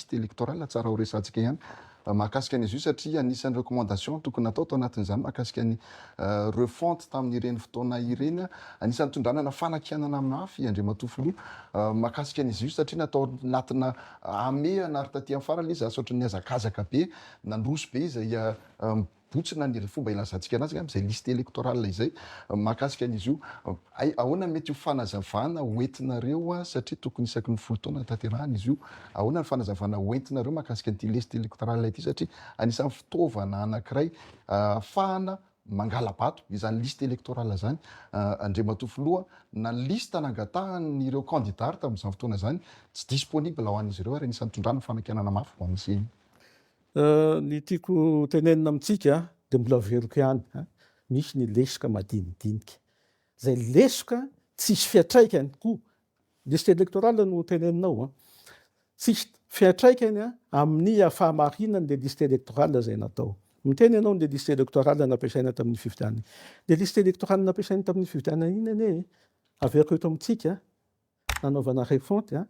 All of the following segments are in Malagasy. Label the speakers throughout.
Speaker 1: Fiche electorale tsara ho resantsika ihany mahakasika an'izy io satria anisan'ny recommandation tokony natao tao anatin'izany mahakasika ny refonte tamin'ireny fotoana ireny anisan'ny tondranana fanakianana mafy Andriamatoa Filoha mahakasika an'izy io satria natao anatina hamehana ary taty amin'ny farany izy asaotran'ny hazakazaka be nandroso be izay Botsina ny fomba ilazantsika anazy angamba izay liste electorale izay mahakasika an'izy io. Hay ahoana ny mety ho fanazavana ho entinareo satria tokony isaky ny folo taona hataterahana izy io. Ahoana ny fanazavana ho entinareo mahakasika an'ity liste electorale ity satria anisan'ny fitaovana anankiray ahafahana mangala-bato izany liste electorale izany Andriamatoa Filoha na ny liste nangatahan'ireo candidats ary tamin'izany fotoana izany tsy disponible ho an'izy ireo ary anisan'ny itondrana fanakianana mafy ho an'izay
Speaker 2: Ny tiako hotenenina amintsika dia mbola averiko ihany a, misy ny lesoka madinidinika, izay lesoka tsisy fiantraikany koa, liste électorale no teneninao a, tsisy fiantraikany amin'ny fahamarinany le liste électorale izay natao. Miteny ianao ny le liste électorale nampiasaina tamin'ny fifidianana, le liste électorale nampiasaina tamin'iny fifidianana iny anie averiko eto amintsika nanaovana refonte a,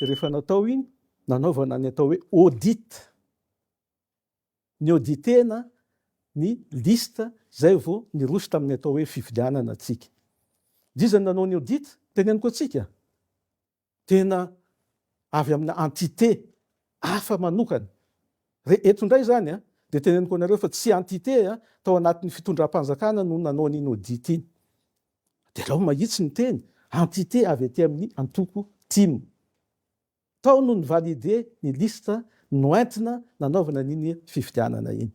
Speaker 2: de rehefa natao iny nanaovana ny atao hoe audit, niauditena ny liste zay vao niroso tamin'ny atao hoe fifidianana atsika, de iza no nanao ny audit? Teneniko atsika, tena avy amina entité hafa manokana, re eto indray zany a, de teneniko anareo fa tsy entité tao anatin'ny fitondram-panjakana no nanao an'iny audit iny. Derao mahitsy ny teny entité avy aty amin'ny antoko tim. Tao no ni-valider ny liste noentina nanaovana an'iny fifidianana iny.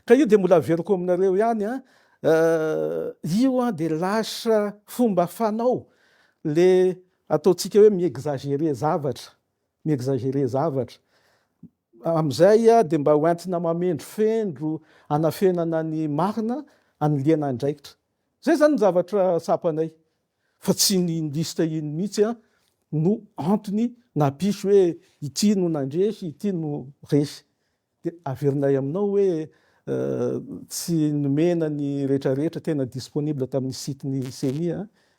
Speaker 2: Ka io dia mbola averiko aminareo ihany an, io dia lasa fomba fanao le ataontsika hoe mi-exagerer zavatra, mi-exagerer zavatra. Amin'izay dia mba hoentina mamendrofendro hanafenana ny marina, hanilihana andraikitra. Zay zany ny zavatra tsapanay fa tsy ny liste iny mihitsy no antony nampisy hoe ity no nandresy ity no resy de averinay aminao hoe tsy nomena ny rehetra rehetra tena disponible tamin'ny site ny ceni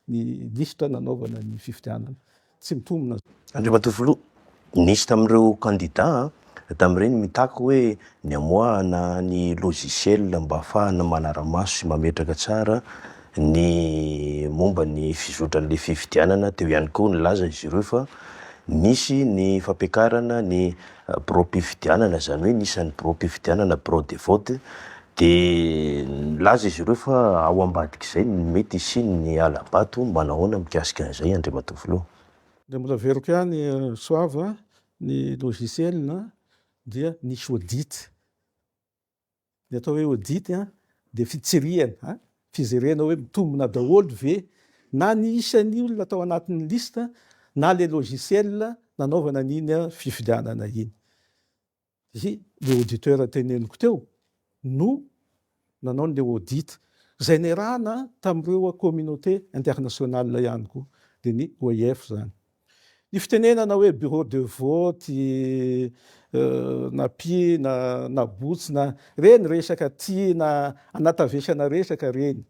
Speaker 2: ny liste nanaovana ny fifidianana. tsy mitombina. Andriamatoa Filoha,
Speaker 3: nisy tamin'ireo kandida tamin'ireny mitaky hoe ny hamoahana ny logiciel mba hahafahana manara-maso sy mametraka tsara ny momba ny fizotran'ilay fifidianana, teo ihany koa nilaza izy ireo fa nisy ny fampiakarana ny biraom-pifidianana, izany hoe ny isan'ny biraom-pifidianana, bureau de vote, dia nilaza izy ireo fa ao ambadik'izay ny mety hisian'ny hala-bato, manao ahoana mikasika an'izay Andriamatoa Filoha? Dia mbola
Speaker 2: averiko ihany Soava, ny logiciel dia nisy audit. Ny atao hoe audit dia fitsirihana, fizerena hoe mitombina daholo ve na ny isan'ny olona tao anatin'ny liste na ilay logiciel nanaovana an'iny fifidianana iny. Dia ilay auditeur teneniko teo no nanao an'ilay audit izay niarahana tamin'ireo communauté internationale ihany koa, dia ny OIF izany. Ny fitenenana hoe bureau de vote, na py na na botsy na, reny resaka tiana anatavesana resaka reny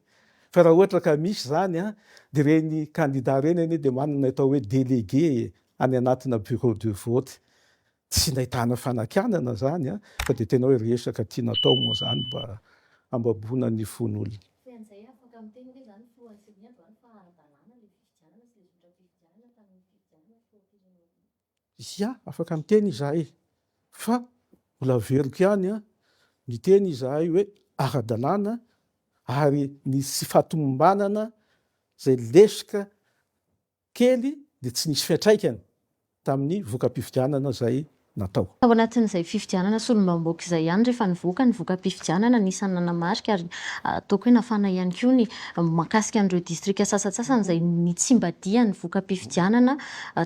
Speaker 2: fa raha ohatra ka misy zany a de reny candidat reny anie de manana ny atao hoe delegue e any anatina bureau de vote tsy nahitana fanakianana zany a fa de tena hoe resaka tiana atao moa zany mba hambaboana ny fon'olona. Tsy an'izay afaka miteny hoe zany filohan'ny CENI androany fa ara-dalàna le fifidianana. Ia, afaka miteny izahay fa mbola averiko ihany ny teny izahay hoe ara-dalàna ary ny tsy fahatomombanana izay lesoka kely dia tsy nisy fiantraikany. tamin'ny voka-pifidianana izay natao. Tao anatin'izay
Speaker 4: fifidianana solombambaoka izay ihany rehefa nivoaka ny voka-pifidianana, anisan'ny nanamarika ary ataoko hoe nafana ihany koa ny mahakasika an'ireo distrika sasantsasany izay nitsimbadihan'ny voka-pifidianana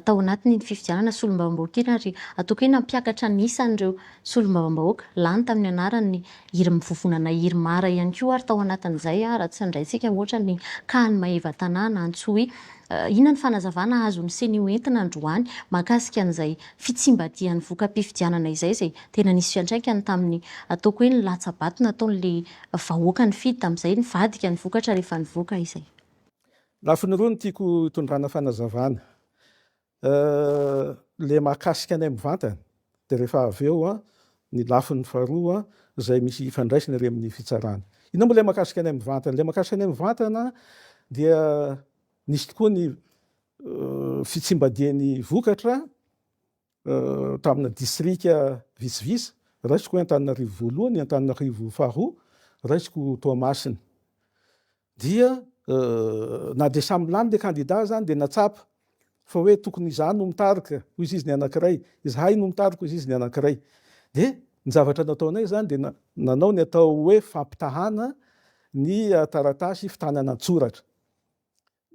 Speaker 4: tao anatin'iny fifidianana solombavambaoka iny ary ataoko hoe nampiakatra ny isan'ireo solombavambahoaka lany tamin'ny anaran'ny Hiry mivovona na hiry mara ihany koa ary tao anatin'izay raha tsy nindraintsika ohatra ny Khan Maeva Tanàna Antsohihy. Inona ny fanazavana azon'ny Ceni ho entina androany mahakasika an'izay fitsimbadihan'ny voka-pifidianana izay izay tena nisy fiantraikany tamin'ny ataoko hoe ny latsa-bato nataon'ilay vahoaka nifidy tamin'izay nivadika ny vokatra rehefa nivoaka izay? Lafiny
Speaker 2: roa no tiako hitondrana fanazavana. Euh le mahakasika anay mivantana de rehefa avy eo an ny lafiny faharoa an izay misy hifandraisany ary amin'ny fitsarana. Inona moa le mahakasika anay mivantana? Le mahakasika anay mivantana dia nisy tokoa ny fitsimbadian'ny vokatra tamina distrika vitsivitsy, raisiko hoe Antananarivo voalohany, Antananarivo faharoa, raisiko Toamasina. Dia na dia samy lany le kandida azany dia natsapa fa hoe tokony izaho no mitarika hoy izy ny anankiray, izahay no mitarika hoy izy ny anankiray. Dia ny zavatra nataonay izany dia nanao ny atao hoe fampitahana ny taratasy fitanana an-tsoratra.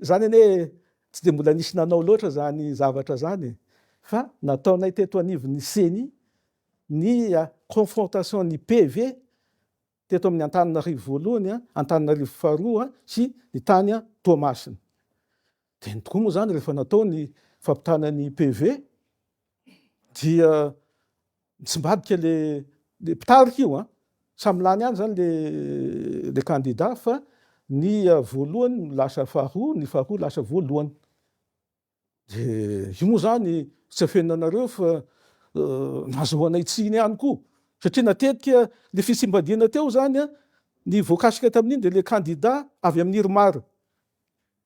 Speaker 2: Izany anie tsy dia mbola nisy nanao loatra izany zavatra izany e. Fa nataonay teto anivon'ny ceni ny confrontation ny PV teto amin'ny Antananarivo voalohany, Antananarivo faharoa sy ny tany Toamasina. Teny tokoa moa izany rehefa natao ny fampitana ny PV dia mitsimbadika le le mpitarika io an! Samy lany ihany izany le le kandida fa ny voalohany lasa faharoa, ny faharoa lasa voalohany. De io moa zany tsy afenina anareo fa nazahoanay tsiny ihany koa satria na tetika le fisimbadiana teo zany a ny voakasika tamin'iny de le kandida avy amin'ny irmar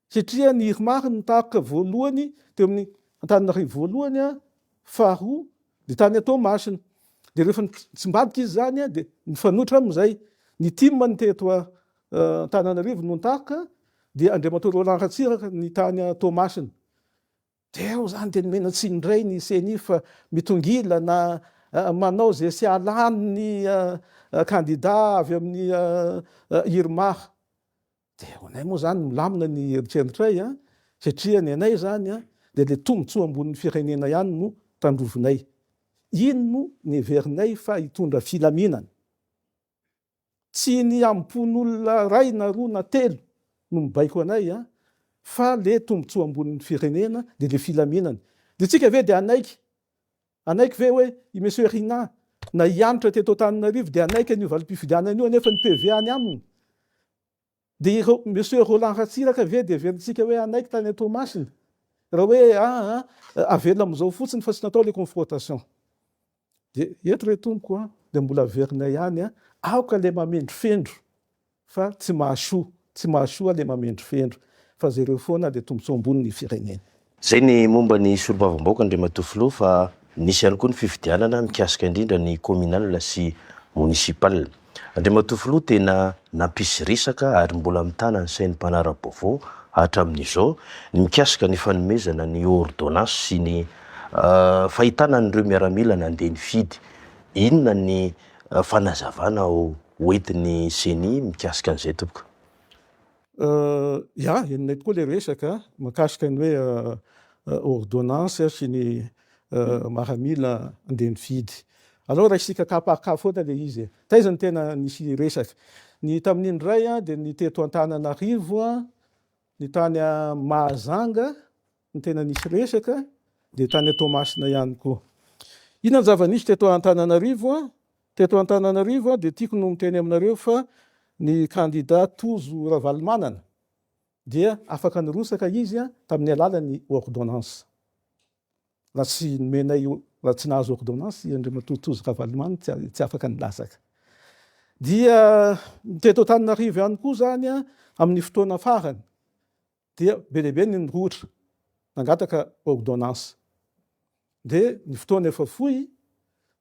Speaker 2: satria ny irmar no taroka voalohany teo amin'ny antananarivo voalohany a faharoa de tany a toamasina de rehefa nitsimbadika izy zany a de nifanohitra amizay ny tim no teto a Antananarivo no nitaroka dia Andriamatoa Roland Ratsiraka ny tany Toamasina. Teo zany dia nomena tsiny indray ny ceni fa mitongila na manao izay tsy hahalany ny kandida avy amin'ny IRMAR. Dia ho anay moa zany milamina ny eritrerintray satria ny anay zany dia le tombontsoa ambonin'ny firenena ihany no tandrovinay. Iny no neverinay fa hitondra filaminana. Tsy ny ampon'olona ray na roa na telo no mibaiko anay an, fa le tombotsoa ambonin'ny firenena dia le filaminana. Dia tsika ve dia hanaiky hanaiky ve hoe i Monsieur Rinah na hianotra teto Antananarivo dia hanaiky an'io valim-pifidianana io anefa ny PV any aminy? Dia ireo Monsieur Roland Ratsiraka ve dia heverintsika hoe hanaiky tany an-Toamasina? Raha hoe ah ah, avelona amin'izao fotsiny fa tsy natao ilay confrontation. Dia eto re tompoko an, dia mbola averinay ihany an, aoka ilay mamendrofendro fa tsy mahasoa, tsy mahasoa ilay mamendrofendro fa jereo foana ilay tombontsoa ambony ny firenena. Izay ny momba
Speaker 3: ny solombavambahoaka Andriamatoa Filoha fa nisy ihany koa ny fifidianana mikasika indrindra ny communal sy municipal. Andriamatoa Filoha tena nampisy resaka ary mbola mitana ny sain'ny mpanara-baovao hatramin'izao ny mikasika ny fanomezana ny ordonnance sy ny fahitana an'ireo miaramila nandeha nifidy. Inona ny fanazavana hoentin'ny ceni mikasika an'izay tompoko? Ya,
Speaker 2: henonay tokoa ilay resaka mikasika ny hoe ôrdônansy sy ny maha mila andeha mividy. Aleo raisika cas par cas foana ilay izy e! Taiza no tena nisy resaka? Ny tamin'ny indray dia ny teto Antananarivo, ny tany Mahajanga Ny tena nisy resaka dia tany Toamasina ihany koa. Inona ny zava-nisy teto Antananarivo? Teto Antananarivo dia tiako no miteny aminareo fa ny kandida Tojo Ravalomanana dia afaka nirotsaka izy tamin'ny alalan'ny ordonnance. Raha tsy nomenay, raha tsy nahazo ordonnance i Andriamatoa Tojo Ravalomanana dia tsy afaka nilatsaka. Dia teto Antananarivo ihany koa izany amin'ny fotoana farany. dia be dia be ny nirohotra nangataka ordonnance dia ny fotoana efa fohy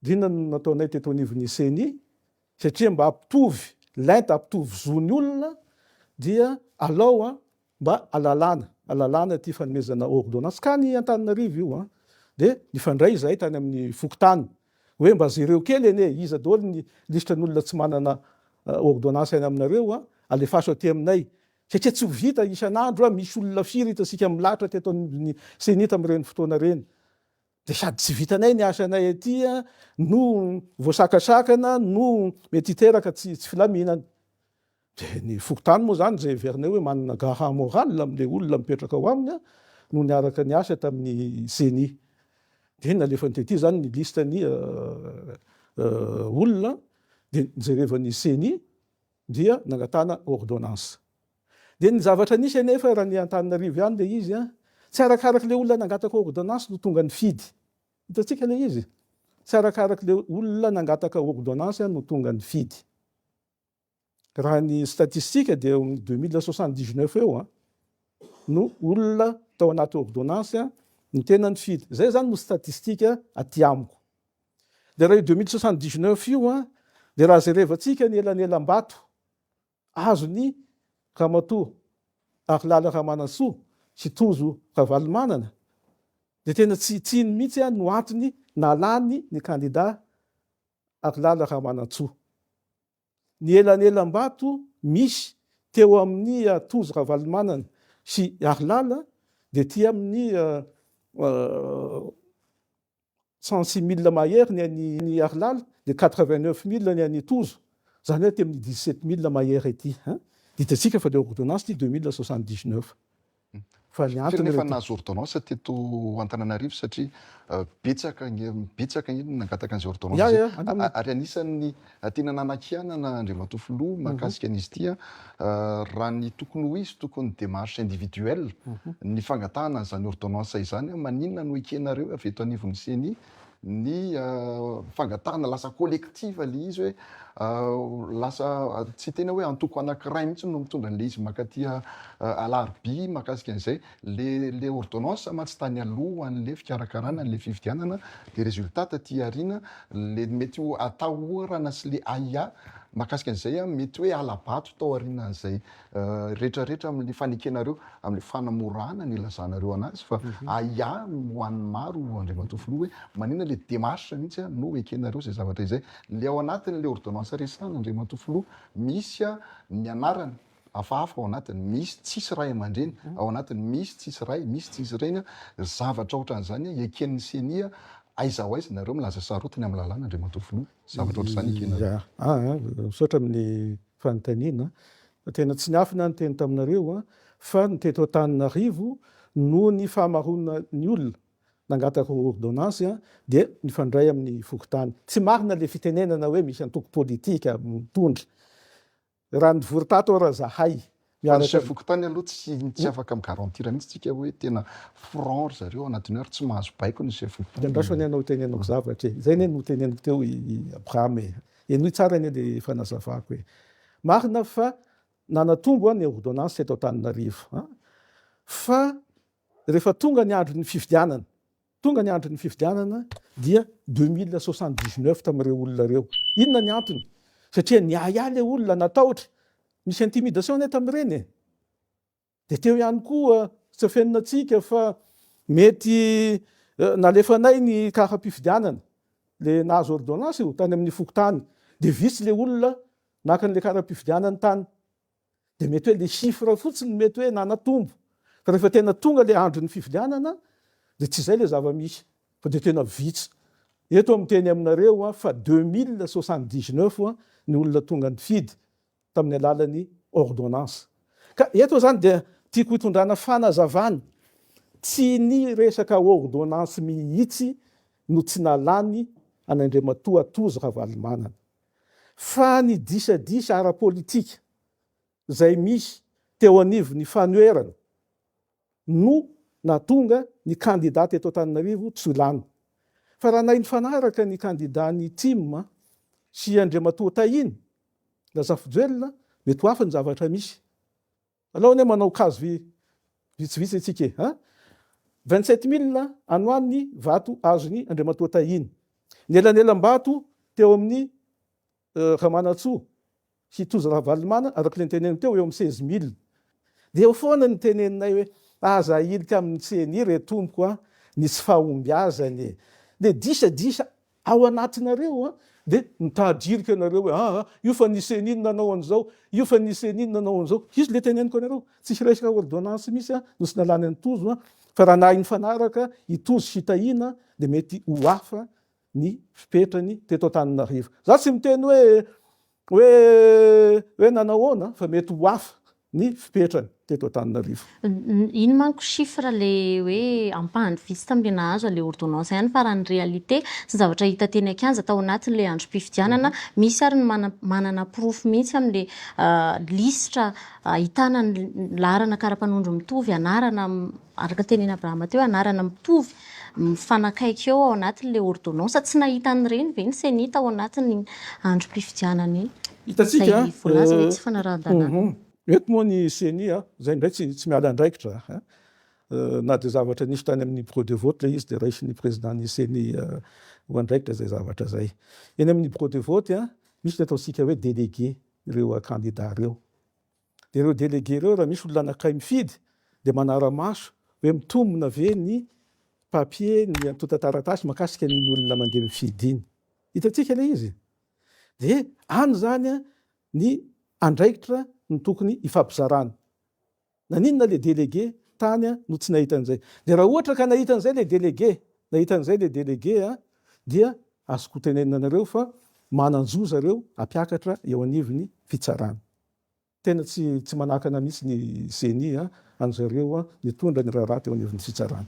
Speaker 2: dia inona no nataonay teto anivon'ny ceni satria mba hampitovy lenta hampitovy zon'ny olona dia alao an mba alalana alalana ity fanomezana ordonnance ka ny Antananarivo io an dia nifandray izahay tany amin'ny fokontany hoe mba jereo kely anie iza daholo ny lisitran'olona tsy manana ordonnance any aminareo an alefaso aty aminay Satria tsy ho vita isan'andro, misy olona firy eto isika milahatra teto anivon'ny ceni tamin'ireny fotoana ireny, dia sady tsy vitanay ny asanay aty no voasakasakana no mety hiteraka tsy filaminana. Dia ny fokontany moa izany izay heverinay hoe manana gaha morale amin'ilay olona mipetraka ao aminy no niaraka niasa tamin'ny ceni. Dia nalefany tety izany ny liste ny olona dia jerevan'ny ceni. dia nangatahana ordonnance. Dia ny zavatra nisy anefa raha ny Antananarivo ihany ilay izy, tsy arakaraka ilay olona nangataka ordonnance no tonga nifidy. Hitantsika ilay izy, tsy arakaraka ilay olona nangataka ordonnance no tonga nifidy. Raha ny statistika dia amin'ny deux mille soixante dix neuf eo no olona tao anaty ordonnance no tena nifidy. Izay izany no statistika aty amiko. Dia raha io deux mille soixante dix neuf io an, dia raha jerevantsika ny elanelam-bato azon'i Ramatoa Harilala Ramanantsoa sy Tojo Ravalomanana dia tena tsy tsiny mihitsy an no antony nalany ny kandida Harilala Ramanantsoa. Ny elanelam-bato misy teo amin'i Tojo Ravalomanana sy Harilala dia tia amin'ny cent six mille mahery ny an'i Iarilaly dia quatre vingt neuf mille ny an'i Tojo, izany hoe aty amin'ny dix sept mille mahery aty an! Ditantsika fa ilay ordonnance ity deux mille soixante dix neuf fa ny antony rehefa. Firenena efa nahazo ordonnance
Speaker 1: teto Antananarivo satria betsaka betsaka ny nangataka an'izay ordonnance izay ary anisan'ny. Tena nanakianana Andriamatoa Filoha mahakasika an'izy ity raha ny tokony ho izy tokony ny démarche individuelle ny fangatahana an'izany ordonnance izany maninona no ekenareo avy eto anivon'ny ceni ny fangatahana lasa collective ilay izy hoe lasa tsy tena hoe antoko anankiray mihitsy no mitondra an'ilay izy makaty alarobia mahakasika an'izay Le le ordonnance mantsy tany alohan le fikarakarana le fifidianana de resultat taty aoriana le mety ho atahorana sy le ahiahy makasika an'izay an mety hoe halabato tao aorinan zay retra retra amin le fanekenareo amin le fanamorana ny ilazanareo anazy fa ahiahy ho an'ny maro Andriamatoa Filoha hoe manina le demarche mintsy an no ekenareo zay zavatra izay le ao anatin le ordonnance resahana Andriamatoa Filoha misy an ny anarana hafahafa ao anatiny, misy tsisy ray aman-dreny ao anatiny, misy tsisy ray, misy tsisy reny, ry zavatra ohatran'izany eken'ny ceni, aiza ho aiza nareo milaza sarotiny amin'ny lalàna Andriamatoa Filoha, zavatra ohatran'izany ekenareo. Ya, misaotra amin'ny
Speaker 2: fanontaniana, tena tsy niafina aho niteny taminareo fa ny teto Antananarivo noho ny fahamaroana ny olona nangataka ordonnance dia nifandray amin'ny fokontany, tsy marina le fitenenana hoe misy antoko politika mitondra Raha nivory tato ara zahay. Fa ny chef fokontany
Speaker 1: aloha tsy tsy afaka mi garantir mihitsy tsika hoe tena franc ry zareo anatin'ny hoe ary tsy mahazo baiko ny chef fokontany. Dia andraso anie anao hitenenako
Speaker 2: zavatra e! Izay anie no noteneniko teo i Abraham e! Henoy tsara anie le fanazavako e! Marina fa nanatombo ny ordonnance teto Antananarivo an! Fa rehefa tonga ny andron'ny fifidianana, Tonga ny andron'ny fifidianana dia deux mille soixante dix neuf tamin'ireo olona ireo. Inona ny antony? Satria niahiahy ilay olona, natahotra. Nisy intimidation anie tamin'ireny e! Dia teo ihany koa, tsy afeninantsika fa mety nalefanay ny kara-pifidianana, ilay nahazo ordonnance io, tany amin'ny fokontany. Dia vitsy ilay olona naka an'ilay kara-pifidianany tany. dia mety hoe le chiffre fotsiny mety hoe nanatombo fa rehefa tena tonga le andron'ny fivilianana dia tsy izay le zava-misy fa dia tena vitsy eto amin'ny teny aminareo a fa 2079 a ny olona tonga nifidy tamin'ny alalan'ny ordonnance ka eto izany dia tiako hitondrana fanazavana tsy ny resaka ordonnance mihitsy no tsy nalany an'Andriamatoa Tojo Ravalomanana fa ny disadisa ara-politika izay misy teo anivon'ny fanoherana no nahatonga ny kandida teto Antananarivo tsy ho lany. Fa raha nahay nifanaraka ny kandidan'ny tim sy Andriamatoa Tahiana Razafijoelina, mety ho hafa ny zavatra misy. Aleo anie manao kazo vi vitsivitsy antsika e! An! Vingt sept mille ano any ny vato azon'i Andriamatoa Tahina. Ny elanelam-bato teo amin'i Ramanantsoa sy Tojo Ravalomanana araka ilay niteneniny teo eo amin'ny seize mille. Dia eo foana ny teneninay hoe aza ahilika amin'ny ceni re tompoko an! Ny tsy fahombiazany e! Dia disadisa Ao anatinareo an! Dia mitady hirika ianareo hoe aa io fa ny ceni no nanao an'izao, io fa ny ceni no nanao an'izao. Izy ilay teneniko anareo, tsy hiraihira ordonnance mihitsy an! no tsy nalany an'i Tojo an! Fa raha nahay nifanaraka i Tojo sy i Tahiana dia mety ho hafa ny fepetrany teto Antananarivo. Za tsy miteny hoe Hoe hoe nanao ahoana fa mety ho hafa ny fipetrany teto Antananarivo. Iny manko
Speaker 4: chiffre le hoe ampahany vitsy taminy nahazo anle ordonnance ihany fa raha ny réalité sy ny zavatra hita teny an-kianja tao anatin'ilay androm-pifidianana misy ary ny manana porofo mihitsy amin'ilay lisitra ahitana ny laharana kara-panondro mitovy anarana araka ny tenin' Abrahama teo, anarana mitovy, mifanakaiky eo ao anatin'ilay ôrdônansa. Tsy nahita an'ireny ve ny Senita ao anatin'ny androm-pifidianana iny? Hitantsika, izay voalaza
Speaker 2: hoe tsy
Speaker 4: fanarahan-dalàna. Eto moa ny
Speaker 2: ceni, izay indray tsy tsy miala andraikitra, na dia zavatra nisy tany amin'ny bureau de vote ilay izy dia raisin'ny prezidàn'ny ceni ho andraikitra izay zavatra izay. Eny amin'ny bureau de vote, misy ny ataontsika hoe délégué ireo kandidà ireo. Dia ireo délégués ireo raha misy olona anankiray mifidy dia manara-maso hoe mitombina ve ny papier, ny antontan-taratasy mahakasika an'iny olona mandeha mifidy iny. Hitantsika ilay izy. Dia any izany ny andraikitra no tokony hifampizarana. Naninona ilay délégué tany no tsy nahita an'izay? Dia raha ohatra ka nahita an'izay ilay délégué, nahita an'izay ilay délégué, dia azoko tenenina anareo fa manan-jo zareo hampiakatra eo anivon'ny fitsarana. Tena tsy tsy manakana mihitsy ny ceni an, anjareo nitondra ny raharaha teo anivon'ny fitsarana.